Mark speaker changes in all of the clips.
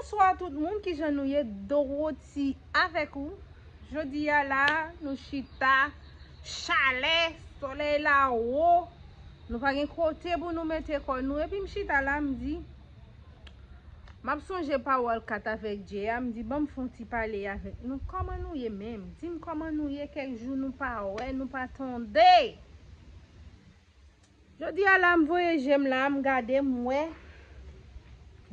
Speaker 1: Bonswa tout moun kijan nou ye Dorothy avèk ou Jodi a la nou chita chalè solèy la wo nou pa gen kote pou nou mete kò nou epi m chita la m di m ap sonje pawòl Cath avèk Jay a m di banm fè yon ti pale avèk nou kòman nou ye menm di m kòman nou ye kèk jou nou pa wè nou pa tande. Jodi a la m voye je m la m gade m wè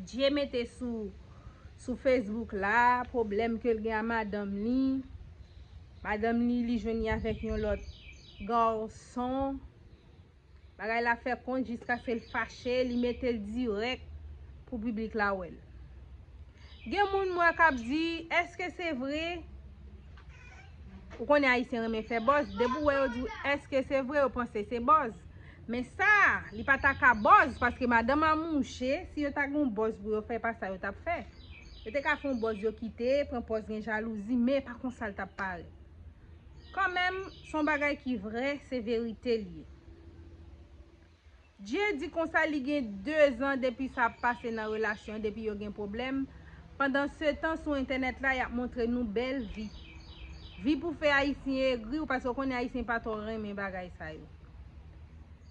Speaker 1: Djie mete sou Facebook la pwoblèm ke l gen a madanm li. Madanm li li jwenn li avèk yon lòt garçon. Bagay la fè kont jiskaske l fache li mete l dirèk pou piblik la wè l. Gen moun m wè k ap di eske se vre? Ou konnen ayisyen renmen fè bòz. Depi ou wè yo di ou eske se vre yo panse se bòz. Men sa, li pa ta ka bòz paske madanm a mouche. Si yo ta gen yon bòz pou yo fè, pa sa yo tap fè. Yo te ka fè yon bòz yo kite, pran pòz gen jalouzi, men pa konsa li tap pare. Kan menm, son bagay ki vre, se verite li. Jay di konsa li gen 2 zan depi sa ap pase nan relasyon depi yo gen pwoblèm, pandan setan sou entènèt la yap montre nou bèl vi. Vi pou fè ayisyen egri ou paske ou konnen ayisyen pa twò renmen bagay sa yo.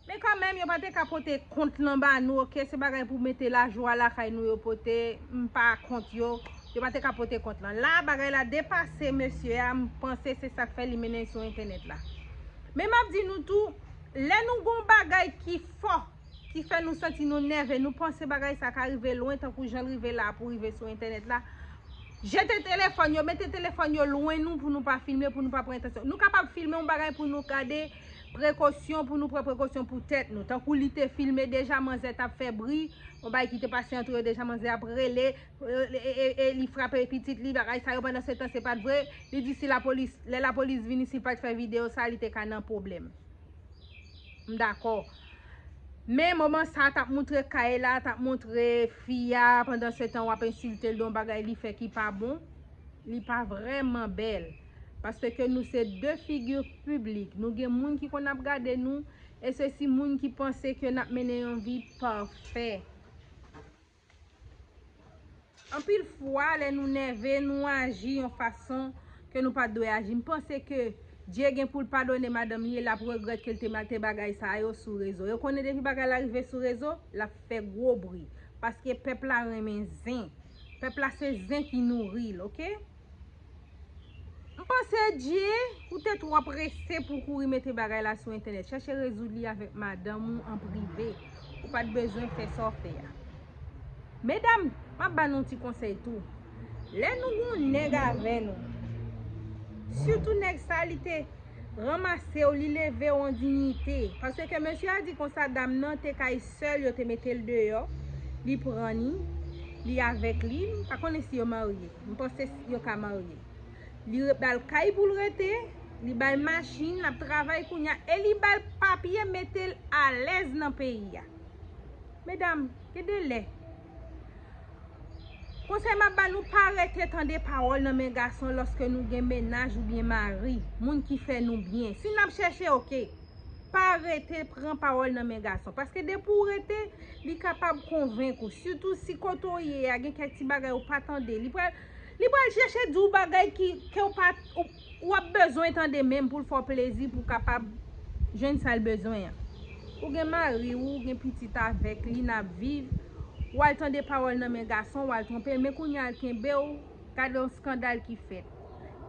Speaker 1: Men kanmenm yo pa te ka pote kont lan ba nou ok se bagay pou mete lajwa lakay nou yo pote m pa kont yo, yo pa te ka pote kont lan. La bagay la depase mesye a m panse se sak fè li mennen sou entènèt la. Men map di nou tou. Lè nou gon bagay ki fò, ki fè nou santi nou nève, nou panse bagay sa ka rive lwen tankou jan l rive la pou rive sou entènèt la, jete telefòn yo, mete telefòn yo lwen nou pou nou pa filme, pou nou pa pran entansyon. Nou kapab filme yon bagay pou nou gade prekosyon, pou nou pran prekosyon pou tèt nou. Tankou li te filme deja manzè t ap fè bri, yon bagay ki te pase antre yo deja, manzè ap rele, e li frape pitit li bagay sa yo pandan se tan se pat vre li di si la polis lè la polis vini si pat fè video sa li te ka nan problem m dakò men moman sa tap moutre kay la tap moutre fi a pandan se tan wap ensiltel don bagay li fè ki pa bon li pa vreman bèl paske ke nou se de figure public nou gen moun ki konn ap gade nou e se si moun ki panse ke nap mennen yon vi pafè. Anpil fwa lè nou nève nou aji yon fason ke nou pat dwe aji. M panse ke Dye gen pou l padone madanm li e lap regrèt ke l te mete bagay sa yo sou rezo. Yo konnen depi bagay la rive sou rezo, lap fè gwo bri. Paske pèp la renmen zen. Pèp la se zen ki nouri l ok. M panse Dje ou te twò prese pou w kouri mete bagay la sou entènèt. Chèche rezoud li avèk madanm ou an prive. Ou pa t bezwen fè sa w fè a. Medam, m ap ba nou yon ti konsèy tou. Lè nou gen yon nèg avè nou, sitou nèg sa li te. ranmasew li levew an dignite paske mesye a di konsa dam nan te kay sèl yo te metel deyò li pran ni li avèk li m pa konnen si yo marye m panse yo ka marye li bal kay poul rete li bal machin lap travay kounya e li bal papye metel alèz nan peyi a medam gen de lè Konsèy map ba nou pa rete tande pawòl nan men gason lòske nou gen mennaj ou byen mari, moun ki fè nou byen. Si nap chèche ok, pa rete pran pawòl nan men gason. Paske depi ou rete, li kapab konvenk ou. Sitou si kote ou ye a gen kèk ti bagay ou pa tande. Li pral chèche di ou bagay ki ou pa. Ou ap bezwen tande menm pou l fè w plezi pou w kapab jwenn sa l bezwen an. Ou gen mari w, ou gen pitit avèk li n ap viv, w al tande pawòl nan men gason, w al twonpe l men kounye a l kenbe w, gade yon skandal ki fèt.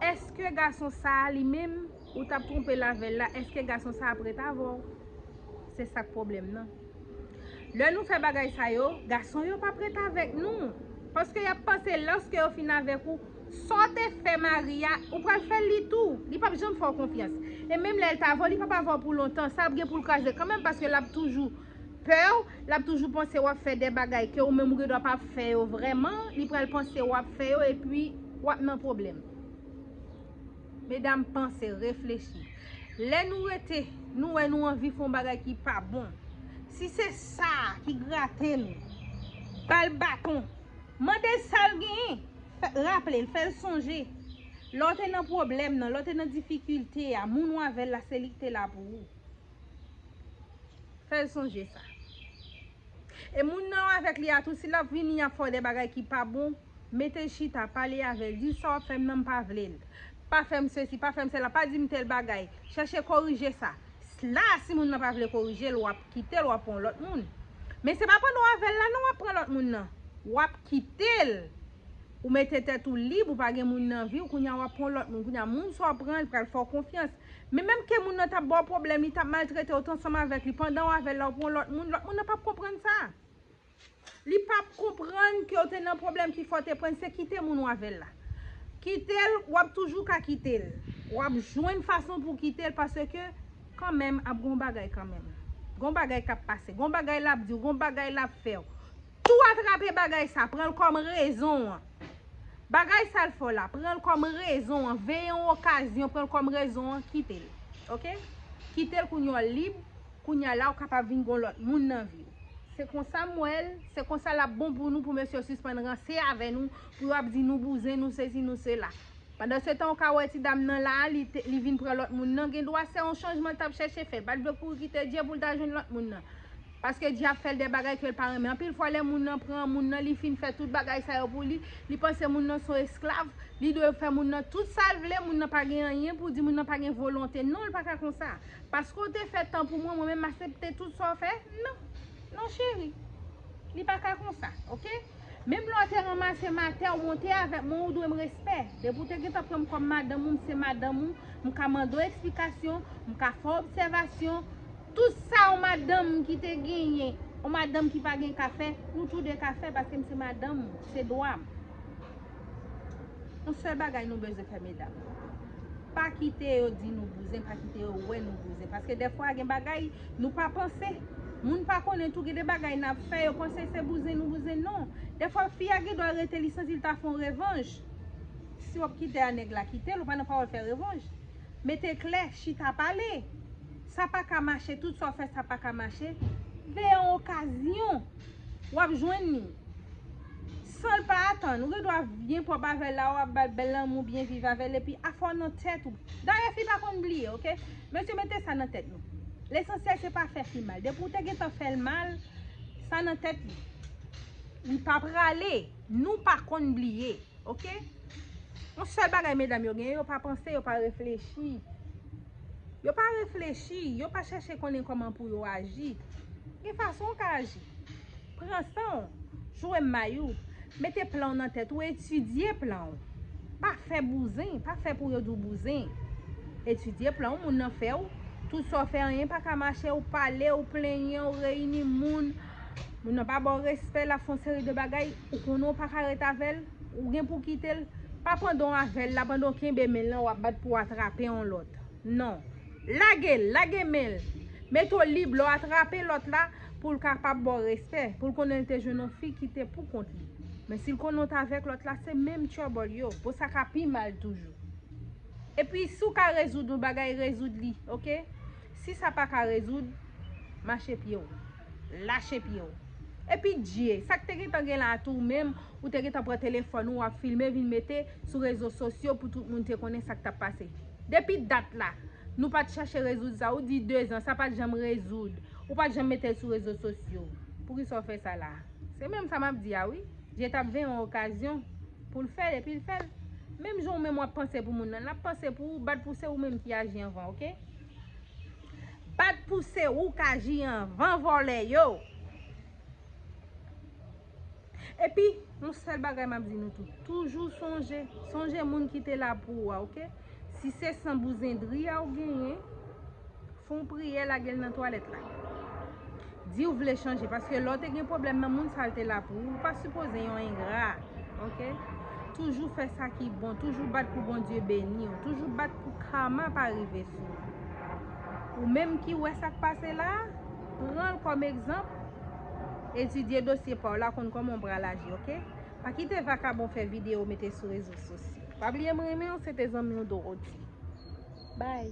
Speaker 1: Èske gason sa a li menm, ou t ap twonpe l avè l la, èske gason sa a ap ret avè w? Se sa k pwoblèm nan. Lè nou fè bagay sa yo, gason yo p ap ret avèk nou. Paske y ap panse lòske yo fin avèk ou, Sa w te fè Maria, ou pral fè l li tou. Li pap janm fè w konfyans. E menm lè l ta avè w, li pap avè w pou lontan. Sa ap gen pou l kraze kanmenm paske l ap toujou pè w, l ap toujou panse w ap fè de bagay ke ou menm ou gendwa pa fè yo vrèman, li pral panse w ap fè yo epi w ap nan pwoblèm. Medam panse, reflechi. Lè nou rete, nou wè nou anvi fè yon bagay ki pa bon. Si se sa ki grate nou, ba l baton. Mande l sa l genyen. Raple l, fè l sonje. Lè w te nan pwoblèm nan, lè w te nan difikilte a, moun ou avè l la se li ki te la pou ou. Fè l sonje sa. E moun nan ou avèk li a tou, si l ap vini ap fè w de bagay ki pa bon, mete l chita, pale avè l, di l sa w ap fè m nan m pa vle l. Pa fè m sesi, pa fè m sela, pa di m tèl bagay. Chèche korije sa. La a si moun nan pa vle korije l, w ap. Kitel wap pran lot moun. Men se pa pandan w avèl la non wap pran lòt moun nan. Wap kitel. Ou mete tèt ou lib ou pa gen moun nan viw kounya wap pran lòt moun kounya moun sa w pran li pral fè w konfyans men menm ke moun nan tap baw pwoblèm li tap maltretew ou t ansanm avèk li pandan w avèl la ou pran lòt moun lòt moun nan pap konprann sa. Li pap konprann kew te nan pwoblèm ki fè w te prann se kite moun w avèl la. Kitel wap toujou ka kitel. Wap jwenn fason pou kitel paske kanmenm ap gon bagay kanmenm. Gon bagay kap pase, gon bagay lap diw, gon bagay lap fèw. Tou atrape bagay sa, pranl kòm rezon an. Bagay sal fè w la, pranl kòm rezon an, veye yon okazyon pranl kòm rezon an, kitel. Ok? Kitel kounye w lib. Kounya la ou kapab vin gon lòt moun nan viw. Se konsa m wèl, se konsa lap bon pou nou pou mesye yo sispann ranse avè nou, pou yo ap di nou bouzen, nou sesi, nou sela. Pandansetan ou ka wè ti dam nan la a li vin pran lòt moun nan, gendwa se yon chanjman l tap chèche fè, l pat vle kouri kite Dye pou l ta jwenn lòt moun nan. Paske Dye ap fè l de bagay ke l pa renmen. Anpil fwa lè moun nan pran moun nan li fin fè tout bagay sa yo pou li, li panse moun nan son esklav, li dwe fè moun nan tout sa l vle, moun nan pa gen anyen pou di, moun nan pa gen volonte. Non l pa ka konsa. Paske w te fè tan pou mwen, mwen menm m asepte tout sa w fè? Non. Non cheri. Li pa ka konsa. Ok? Menm lè w te ranmase m atè, w monte avèk mwen, ou dwe m respè. Depi w te gen tan pran m kòm madanm ou, m se madanm ou, m ka mande w eksplikasyon, m ka fè w obsèvasyon. Tout sa yon madanm ki te genyen, yon madanm ki pa gen ka fè, nou tou de ka fè paske m se madanm ou. Se dwa m. Yon sèl bagay nou bezwen fè medam. Pa kite yo di nou bouzen, pa kite yo wè nou bouzen. Paske dèfwa gen bagay nou pa panse. Moun pa konnen tou gen de bagay n ap fè yo panse se bouzen nou bouzen non. Dèfwa fi a gen dwa rete li santi l ta fè yon revanj. Si w ap kite a nèg la kite l, ou pa nan pawòl fè revanj. Mete klè, chita pale. Sa pa ka mache, tout sa w fè sa pa ka mache. Veye yon okazyon, w ap jwenn li. Sanl pa atann, ou gen dwa byen pwòp avèl la, wap bal bèl lanmou, byen viv avèl epi afè w nan tèt ou. Dayè fi pa konn bliye ok. Mesye mete sa nan tèt nou. Lesansyèl se pa fè fi mal. Depi ou te gentan fèl mal, sa nan tèt li. Li pa prale, nou pa konn bliye ok. Yon sèl bagay medam yo genyen, yo pa panse, yo pa reflechi. Yo pa reflechi, yo pa chèche konnen kòman pou yo aji. Gen fason ou ka aji. Pran san w, jwe may ou, mete plan w nan tèt ou, etidye plan w. Pa fè bouzen, pa fè pou yo di w bouzen. Etidye plan w, moun nan fè w, tout sa w fè anyen pa ka mache, ou pale, ou plenyen, ou reyini moun, moun nan pa ba w respè, l ap fè yon seri de bagay, ou konnen w pa ka ret avè l, ou gen pou w kite l, pa pandan w avè l la, pandan w kenbe men l lan w ap bat pou w atrape yon lòt. Non. Lage l, lage men l, mete w lib, lè w atrape lòt la. pou l kapab ba w respè, pou l konnen l te jwenn yon fi ki te pou kont li. Men si l konnen w t avèk lòt la, se menm trouble yo, bon sa ka pi mal toujou. Epi si w ka rezoud yon bagay, rezoud li, ok. Si sa pa ka rezoud, mache pye w. Lache pye w. Epi dye, sa k te gen tan gen la a tou ou menm, ou te gen tan pran telefòn ou, w ap filme vin mete sou rezo sosyo pou tout moun te konnen sa k t ap pase. Depi dat la, nou pa t chache rezoud sa. Ou di dezan, sa pa t janm rezoud. Ou pat janm metel sou rezo sosyo. Poukisa ou fè sa la. Se menm sa map di a wi. Dye tap ven yon okazyon Poul fèl epil fèl. Menm jan ou menm wap panse pou moun nan lap panse pou ou bat pou se ou menm ki aji anvan ok. Bat pou se ou kaji anvan vòlè yo. Epi, yon sèl bagay m ap di nou tout, toujou sonje, sonje moun ki te la pou ou a, ok? Si se san bouzen dri a ou genyen, fè yon priyè lage l nan twalèt la. Di ou vle chanje, paske lè ou te gen pwoblèm nan, moun sa yo te la pou ou. Ou pa sipoze yon engra, ok? Toujou fè sa ki bon, toujou bat pou Bondye beni ou, toujou bat pou karma pa rive sou ou. Ou menm ki wè sa k pase la a, pran l kòm egzanp. Etidye dosye pa w la konn kòman w pral aji ok. Pa kite vakabon fè videyo mete sou rezo sosyo. Pa bliye m renmen w se te zanmi w Dorothy. Bye.